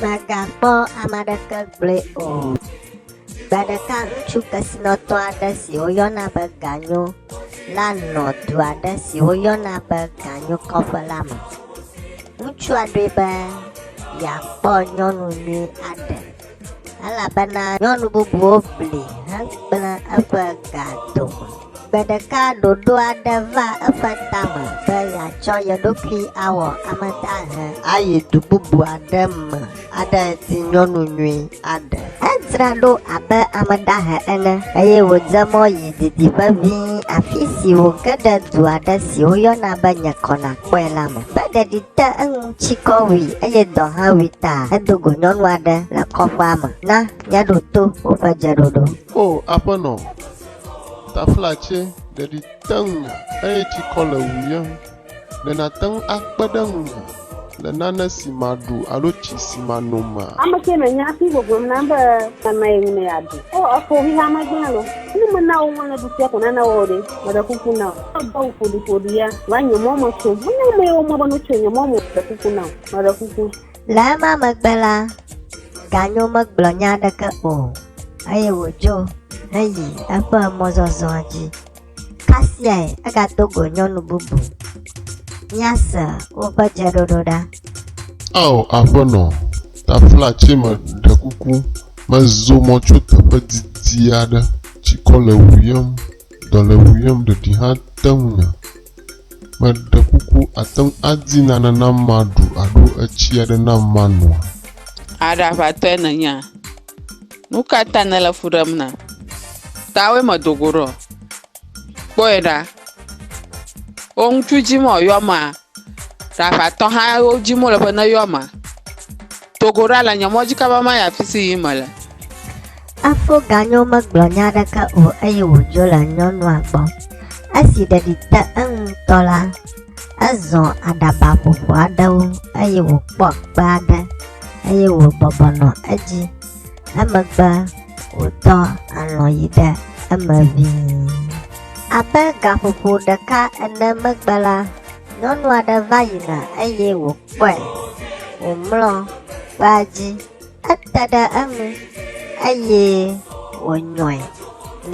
Mègakpɔ ame aɖeke gblɔe o. Gbe ɖeka ŋutsu kesinɔtɔ aɖe si woyɔna be Ganyo la nɔ du aɖe si woyɔna be Ganyo kɔƒe la me. Ŋutsua ɖoe be yeakpɔ nyɔnu nyui aɖe. elabena nyɔnu bubuwo bli hegblẽ eƒe ga dome. Gbe ɖeka ɖoɖo aɖe va eƒe tame be yeatsɔ ye ɖokui awɔ ame dahe ayi du bubu aɖe me aɖe eti nyɔnu nyui aɖe. Edzra ɖo abe ame dahe ene eye wòdze mɔ yi didiƒe ʋĩ afi si wòge ɖe du aɖe si woyɔna be Nye Kɔ Nàkpɔe la me. Ƒe ɖeɖi te eŋu. Tsikɔ wui eye dɔ hã wui ta hedo go nyɔnu aɖe le kɔƒea me. Na míaɖo to woƒe dzeɖoɖo. O Aƒenɔ, taflatse ɖeɖi te ŋunye eye tsikɔ le wuyem. Ɖe nàte ŋu akpe ɖe ŋunye le nane si maɖu alo tsi si mano mea? Ame ke me nya fi gbogboem nam be mama ye ŋu me ya ɖu. O eƒo xixeame gblẽ lo. Ne mena wò ŋu le ɖusia ko nana wɔ o ɖe, meɖe kuku na wò. Egbɔ ŋu ƒoɖiƒoɖi ya va nye mɔ me tso. Menye amee womɔ be notso nye mɔ me o. Ɖe kuku nam. Meɖe kuku. Le ema megbe la, Ganyo megblɔ nya aɖeke o, eye wòdzo heyi eƒe mɔzɔzɔa dzi. Kasiae egado go nyɔnu bubu. Míase woƒe dzeɖoɖo ɖa. Ao, Aƒenɔ, taflatse me, ɖe kuku, mezo mɔ tso teƒe didi aɖe tsikɔ le ŋu yem. Dɔlewu yɔm ɖeɖi hã te ŋu nya. Meɖe kuku, àte ŋu adi nane nam maɖu alo etsi aɖe nam manoa? Aɖaʋatɔe nènyea? Nu ka ta nèle fu ɖem nam? Tawòe medo go ɖo. Kpɔe ɖa! Wò ŋutsu dim wòayɔ amea, ɖe aʋatɔ hã dim wòle be neyɔ amea? Togo ɖa le nye mɔdzi kaba ma yi afi si yim mele. Efo ganyo megblɔ nya aɖeke o eye wòdzo le nyɔnua gbɔ. Esi ɖeɖi te eŋu ŋutɔ la, ezɔ aɖaba ƒoƒo aɖewo eye wòkpɔ kpe aɖe eye wòbɔbɔ nɔ edzi. Emegbe wòtɔ alɔ̃ yi ɖe eme ʋĩi. Abe gaƒoƒo ɖeka ene megbe la, nyɔnu aɖe va yina eye wò. kpɔe wòmlɔ kpea dzi. Ete ɖe eŋu eye wònyɔe.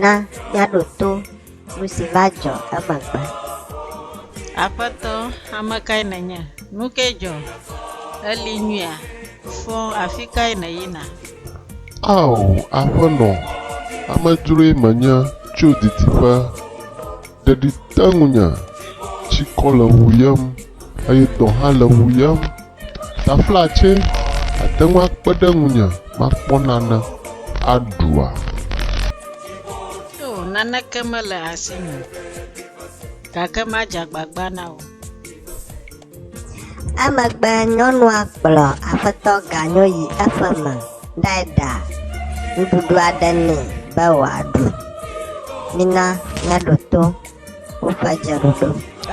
Na míaɖo to nu si va dzɔ emegbe. Aƒetɔ, ame kae nènye? Nu kae dzɔ? Èli nyuia? Fɔ afi kae nèyina? Ao, Aƒenɔ, amedzroe menye tso didiƒe. Ɖeɖi te ŋunye, tsikɔ le ŋuyem, eye dɔ hã le ŋuyem. Taflatsɛ ate ŋu akpe ɖe ŋunye makpɔ nane aɖua? Oo, naneke mele asinye o, gake madze agbagba na wò. Emegbe nyɔnua kplɔ aƒetɔ ganyo yi eƒe me ɖae ɖa nuɖuɖu aɖe nɛ be wòaɖu. Mina míaɖo to woƒe dzeɖoɖo.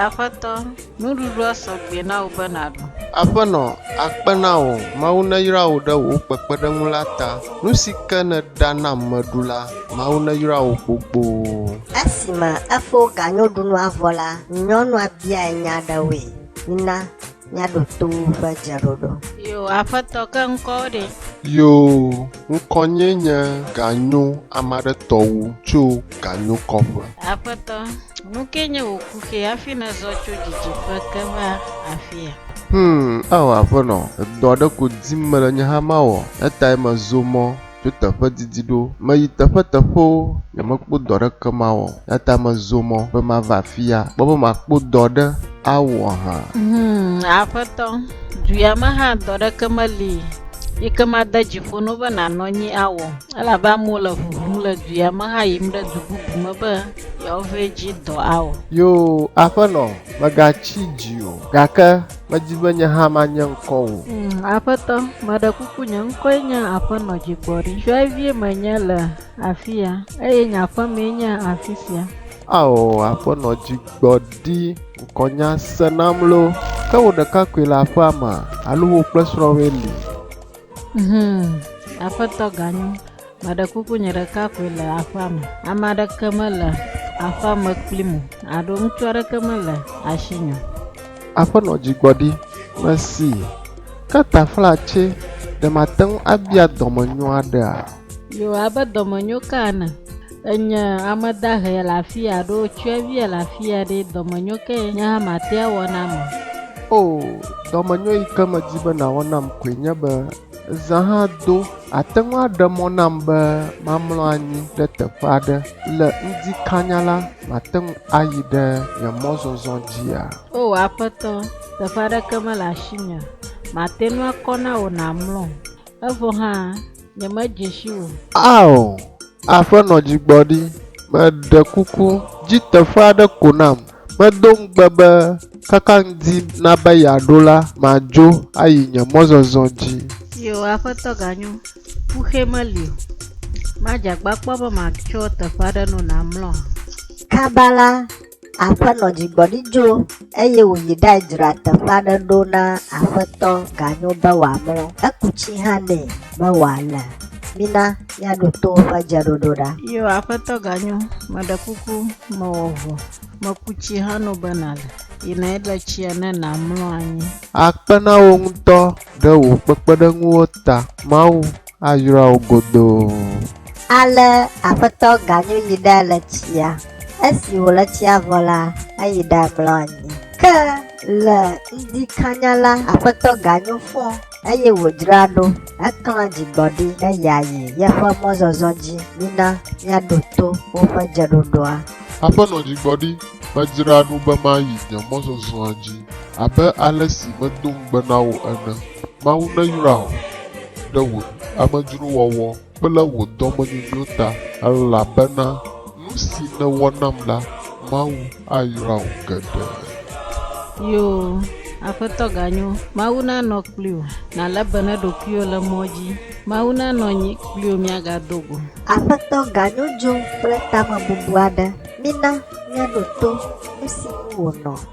Aƒetɔ, nuɖuɖua sɔ gbɛ na wò be nàɖu. Aƒenɔ, akpe na wò! Mawu neyra wò ɖe wò kpekpeɖeŋu la ta. Nu si ke nèɖa nam meɖu la, Mawu neyra wò kpokpoo. Esime efo ganyoɖunua vɔ la, nyɔnua biae nya aɖewoe. Mina míaɖo to woƒe dzeɖoɖo. Yoo, Aƒetɔ, ke ŋkɔwò ɖe? Yoo, ŋkɔnyee nye Ganyo ame aɖe tɔ wu tso ganyokɔƒe. Aƒetɔ, nukee nye wò kuxi hafi nèzɔ tso didiƒe ke va afia? Hum, Ao Aƒenɔ, edɔ aɖe ko dim mele nye hã mawɔ, eyatae mezo mɔ. tso teƒe didi ɖo. Meyi teƒeteƒewo, nyemekpɔ dɔ aɖeke mawɔ o, eya ta mezo mɔ be mava afia, kpɔ be makpɔ dɔ aɖe awɔ hã. Hum, Aƒetɔ, du ya me hã dɔ aɖeke meli yi ke made dzi ƒo na wò be nànɔ anyi awɔ, elabe amewo le ʋuʋum le du ya me hã yim ɖe du bubu me be yewoava edzi dɔ awɔ. Yoo, Aƒenɔ, mègatsi dzi o, gake Medi be nye hã manye ŋkɔ wò. Mm, aƒetɔ, meɖe kuku nye ŋkɔe nye Aƒenɔ Dzigbɔɖi. Tsyɔ̃evie menye le afi ya, eye nye aƒemee nye afi sia. Ao, Aƒenɔ Dzigbɔɖi, ŋkɔnya se nam loo. Ke wò ɖekakpui le aƒea mea, alo wò kple srɔ̃wòe li? Hum, aƒetɔ ganyo. Meɖe kuku nye ɖeka koe le aƒea me. Ame aɖeke mele aƒea me kpli mo. Aɖo ŋutsu aɖeke mele asi nyo. Aƒenɔ dzigbɔɖi, mesi. Ke taflatse, ɖe mate ŋu abia dɔmenyo aɖea? Yoo, abe dɔmenyo ka ene. Enye ame dahe le afia ɖo tsyɔ̃evie le afia ɖe, dɔmenyo kae nye hã mate awɔ na ame? Oo, dɔmenyo yi ke medi be nàwɔ nam koe nye be zã hã do àte ŋu aɖe mɔ nam be mamlɔ anyi ɖe teƒe aɖe. Le ŋdi kanya la, mate ŋu ayi ɖe nye mɔzɔzɔ dzia? Oo, Aƒetɔ, teƒe aɖeke mele asinye mate ŋu akɔ na wò nàmlɔm. Evɔ hã, nyemedze si o. Ao, Aƒenɔ Dzigbɔɖi, meɖe kuku, di teƒe aɖe ko nam. Medo ŋugbe be kaka ŋdi na be yeaɖo la, madzo ayi nye mɔzɔzɔ dzi. Yoo, Aƒetɔ Ganyo, ƒuxɛ meli o. Madze agbagba be matsɔ teƒe aɖe no nàmlɔ hã. Kaba la, Aƒenɔ dzigbɔɖi dzo eye wòyi ɖae dzra teƒe aɖe ɖo na Aƒetɔ ganyo be wòamlɔ. Eku tsi hã nɛ be wòale. Mina míaɖo to woƒe dzeɖoɖo ɖa. Yo, Aƒetɔ ganyo, meɖe kuku, mewɔ vo. Meku tsi hã nɔ be nàle. Yi nɔe ɖe tsia ne nàmlɔ anyi. Akpe na wò ŋutɔ ɖe wò kpekpeɖeŋuwo ta. Mawu. Ayra wo godoo. Ale Aƒetɔ Ganyu yi ɖe le tsia. Esi wòle tsia vɔ la, eyi ɖe mlɔ anyi. Ke le ŋdi kanya la, Aƒetɔ Ganyu fɔ, eye wòdzra ɖo. Eklã dzigbɔɖi be yeayi yeƒe mɔzɔzɔ dzi. Mina míaɖo to woƒe dzeɖoɖoa. Aƒenɔ Dzigbɔɖi, medzra ɖo be mayi nye mɔzɔzɔa dzi abe ale si medo ŋugbe na wò ene. Mawu neyra wò ɖe wò amedzrowɔwɔ kple wò dɔmenyonyo ta, elabena nu si nèwɔ nam la, Mawu ayra wò geɖe. Yoo, Aƒetɔ ganyo, Mawu nanɔ kpliwò, nàlé be ne ɖokuiwò le mɔ dzi, Mawu nanɔ anyi kpliwò miagado go. Aƒetɔ ganyo dzo kple tamebubu aɖe, mina míaɖo to nu si ŋu wònɔ.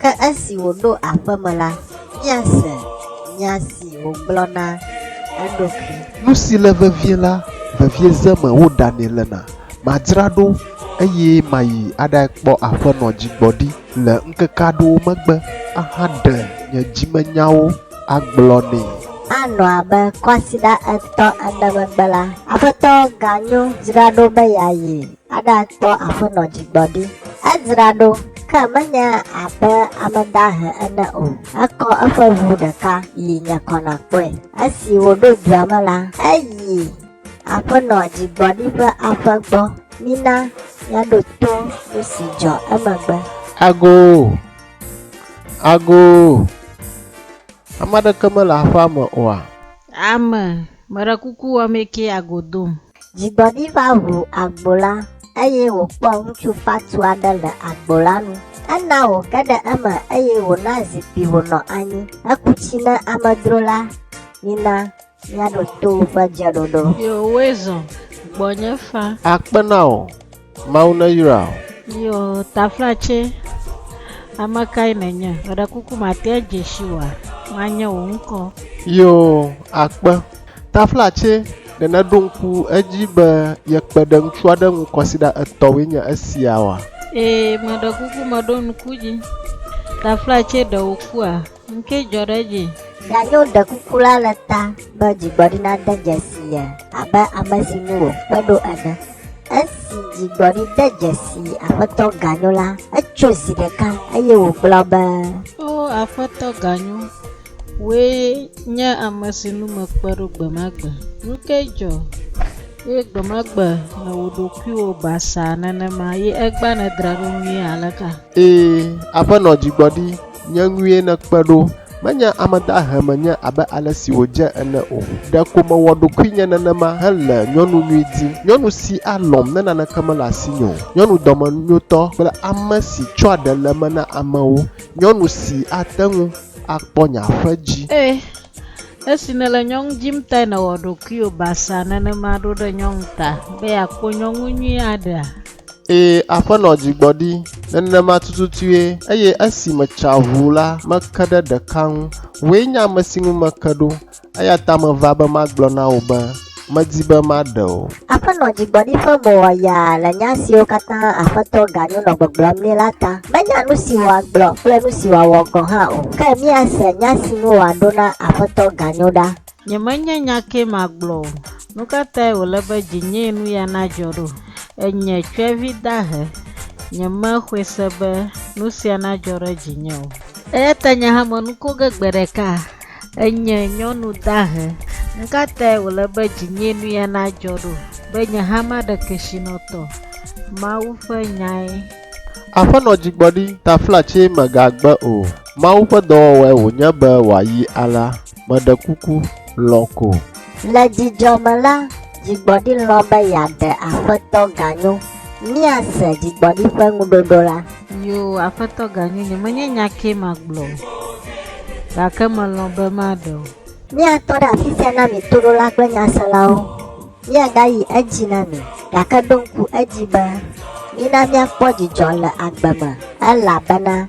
Ke esi wòɖo aƒe me la, míase nya si wògblɔ na eɖokui. Nu si le vevie la, vevieze me woɖanɛ lena. Madzra ɖo, eye mayi aɖae kpɔ aƒenɔ dzigbɔɖi le ŋkeke aɖewo megbe ahaɖe nye dzimenyawo agblɔ nɛ. Anɔ abe kwasiɖa etɔ̃ ene megbe la, aƒetɔ ganyo dzra ɖo be yeayi Aɖakpɔ Aƒenɔ Dzigbɔɖi. Edzra ɖo, ke menye abe ame dahe ene o. Ekɔ eƒe ʋu ɖeka yi nye kɔ nakpɔe. Esi wòɖo dua me la, eyi Aƒenɔ Dzigbɔɖi ƒe aƒe gbɔ. Mina míaɖo to nu si dzɔ emegbe. Agoo! Agoo! Ame aɖeke mele aƒea me oa? Ame, meɖe kuku wɔ amɛ kee ago dom. Dzigbɔɖi va ŋu agbo la, eye wòkpɔ ŋutsu fatu aɖe le agbo la nu. Ena wòge ɖe eme, eye wòna zikpui wònɔ anyi. Eku tsi na amedzro la, Mina míaɖo to woƒe dzeɖoɖo. Yewoe zɔ gbɔnye faa. Akpe na wò. Mawu neyra wò. Yo taflatse, ame kae nènye? Meɖe kuku matea dze si wòa? Manye wò ŋkɔ. Yo akpe, taflatse, ɖe nèɖo ŋku edzi be ye kpe ɖe ŋutsu aɖe ŋu kɔsiɖa etɔ̃woe nye esia wòa? Ee, meɖe kuku meɖo ŋku edzi. Taflatse, ɖe wò kua? Ŋkee dzɔ ɖe edzi. Mianyo ɖekuku la le ta be dzigbɔɖi nade dzesi ye abe ame si ŋu wòkpe ɖo ene. Esi dzigbɔɖi de dzesi Aƒetɔ Ganyo la, etso zi ɖeka eye wògblɔ be. O Aƒetɔ Ganyo, wòe nye ame si ŋu mekpe ɖo gbe ma gbe. Ŋkee dzɔ, eye gbe ma gbe nèwɔ ɖokuiwò basaa nenema, ye egbea nèdra ɖo nyuie aleka? Ee, Aƒenɔ Dzigbɔɖi, Nye ŋue nèkpe ɖo. Menye ame dahe menye abe ale si wòdze ene o. Ɖeko mewɔ ɖokuinye nenema hele nyɔnu nyui dim, nyɔnu si alɔ̃m ne naneke mele asinye o, nyɔnu dɔmenyotɔ kple ame si tsɔa ɖe le eme na amewo, nyɔnu si ate ŋu akpɔ nye aƒe dzi. Ẽ, esi nèle nyɔnu dim tae nèwɔ ɖokuiwò basea nenema ɖo ɖe nyɔnu ta be yeakpɔ nyɔnu nyui aɖea? Ee, Aƒenɔ dzi gbɔ ɖi nenema tututue, eye esi metsa ʋu la, meke ɖe ɖeka ŋu. Wòe nye ame si ŋu meke ɖo, eya ta meva be magblɔ na wò be, medi be maɖe wò. Aƒenɔ dzi gbɔ ɖi ƒe mo wɔ yaa le nya siwo katã Aƒetɔ ganyo nɔ gbɔgblɔm nɛ la ta. Menya nu si wòagblɔ kple nu si wòawɔ gɔ̃ hã o, ke míase nya si ŋu wòaɖo na Aƒetɔ ganyo ɖa. Nyemenye nya kee magblɔ o. Nu ka tae wòle be dzinyee nu ya nadzɔ ɖo? Enye tsyɔ̃evi dahe. Nyemexɔe se be nu sia nadzɔ ɖe dzinye o. Eya ta nye hã menu ko ge gbe ɖeka. Enye nyɔnu dahe. Nu ka tae wòle be dzinyee nu ya nadzɔ ɖo? Be nye hã maɖe kesinɔtɔ. Mawu ƒe nyae. Aƒenɔ Dzigbɔɖi, taflatse megagbe o. Mawu ƒe dɔwɔwɔe wònye be wòayi alea. Meɖe kuku, lɔ̃ ko. Le dzidzɔ me la, dzigbɔɖi lɔ̃ be yeaɖe Aƒetɔ ganyo. Míase dzigbɔɖi ƒe ŋuɖoɖo la. Yoo, Aƒetɔ ganyo, nyemenye nya kee magblɔ o, gake melɔ̃ be maɖe o. Míatɔ ɖe afi sia na mi toɖola kple nyaselawo. Míagayi edzi na mi, gake ɖo ŋku edzi be, Mina míakpɔ dzidzɔ le agbe me, elabena